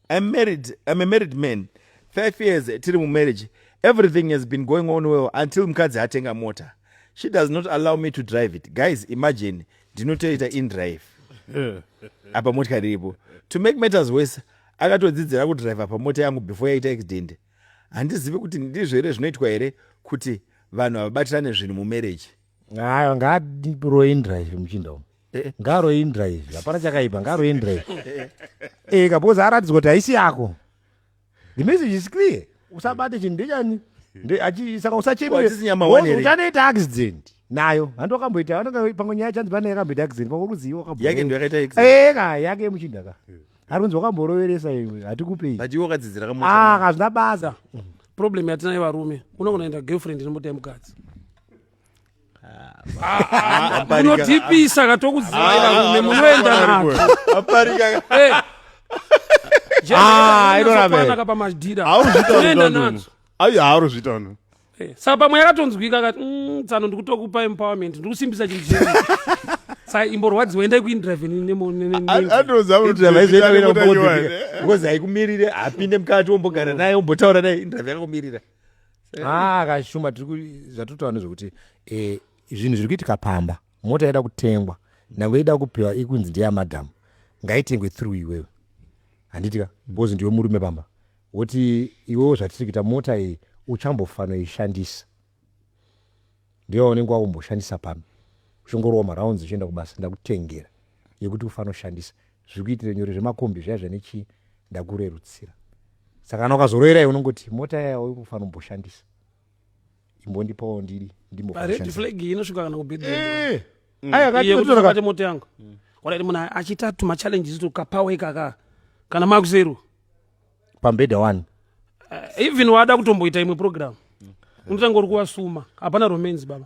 I'm married, I'm a married man. Five years tiri mumarriage. Everything has been going on well until mukadzi atenga mota. She does not allow me to drive it. Guys, imagine ndinotoita in drive. Apa motikari iripo. To make matters worse, akatodzidzira kudriver pamota yangu before yaita accident. Handizivi kuti ndizvo here zvinoitwa here kuti vanhu havabatirane zvinhu mumarriage. Hayo ngaaroi in drive muchinda umu. ngaroindra izvi hapana chakaipa ngaroindra izvi ee kabozi aratidzwa kuti haisi yako the message is clear usabate chinhu ndechani saka usachemereutanoita accident nayo handi wakamboita vanonga pamwe nyaya chanzi pane yakamboita accident pamwe kuziva wakayake ndo yakaita accident ka yake muchinda ka ari kunzi wakamboroveresa iwe hatikupei but iwe wakadzidzira kamu ah hazvina basa problem yatinayo varume unogona enda girlfriend inombota yemukadzi munotipisa ka tokuziva ivarume munoenda nako iroraanaka pamadhira unoenda nadzo haurozviita no eh, saka pamwe yakatonzwika kati mm, tsano ndikutokupa empowerment ndikusimbisa chinhu chii saka imborwadziwa endai kuindrivengozi haikumirire apinde mukati wombogara naye ombotaura naye indrive yakakumirira ah kashuma zvatotaura nezvekuti eh, zvinhu zviri kuitika pamba mota yaida kutengwa nyange ida kupiwa ikunzi ndeyamadhamu ngaitengwe through iwewe handiti ka because ndiwe murume pamba woti iwewo zvatiri kuita mota iyi uchambofanoishandisa ndiwe waunenge wakumboshandisa pano uchingorova marounds uchienda kubasa ndakutengera yekuti ufanoshandisa zviri kuitira nyore zvemakombi zviya zvanechii ndakurerutsira saka kana ukazoroerai unongoti mota yaya ufanobhoshandisa imbondipawo ndidi ndimboaeaati moto yangu wadaiti munhu achita tumachallenges tukapawe kaka kana makuzeru pambhedha wani uh, even wada kutomboita imwe program unotanga uri kuwasuma hapana romanzi baba